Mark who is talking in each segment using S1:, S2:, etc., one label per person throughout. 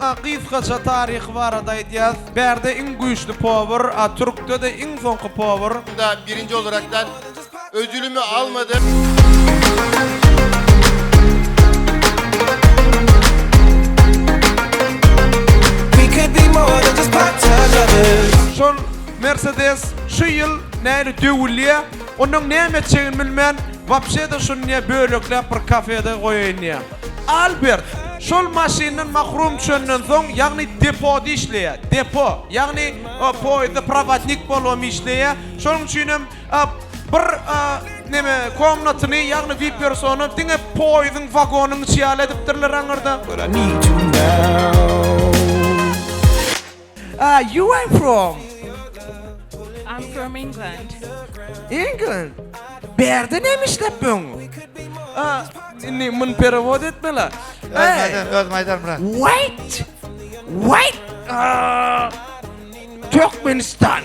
S1: A
S2: gysgaça taryhy barada aýdýas. Bärde iň güýçli powur, a türkde-de iň soňky powur. Şunda birinji
S3: olarakdan ödülimi almadym.
S1: Şol
S2: Mercedes şu ýyl näli döwülýä, onuň näme etjegini bilmän, wapşe-de şuny bölekläp bir kafede goýaýyn diýýä. Albert, Şol maşyndan mahrum çönden soň, ýagny depoda işleýä. Depo, ýagny poýezda prowodnik bolubam işleýä. Şonuň üçinem bir neme komnatyny, ýagny wipersony diňe poýeziň wagonyň içi ýaly edipdirler aňyrda. Are you I'm from.
S4: I'm from England. England.
S2: Bärde näme işläp böň? Aa, indi mun perewod etmela. Özüm özüm
S5: aýdarym bra. Wait.
S2: Wait. Aa, Türkmenistan.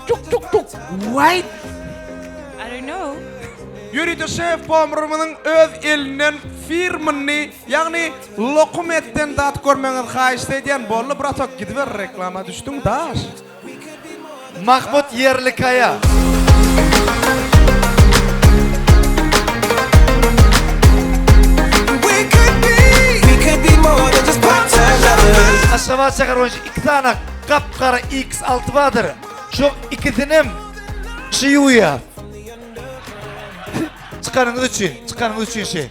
S2: Tuk tuk tuk. Wait.
S4: I don't know. Ýörite
S2: şef pomrymyzyň öz elinden firmyny, ýagny Lokum etden zat görmeňiz haýyşt edýän bolly bratok gidiber reklama düşdüň daş.
S5: Mahmut Ýerlikaya.
S1: Aşgabat şäher boýunça
S5: iki sany gap-gara X alty bardyr. Şoň ikisinem şy ýuwýar. Çykanyňyz üçin, çykanyňyz üçin şy.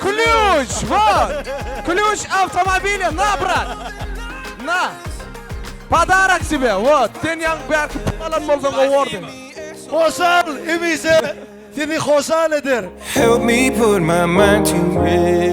S2: Klýuç, wot! Klýuç awtomobilia, na, brat! Na! Podarak tebe, wot! Sen ýaňky bärki pul alan bolsaň gowardy. Hoşal,
S5: hemişe
S1: seni
S5: hoşal
S1: eder!
S5: Help
S1: me put
S5: my
S1: mind to rest.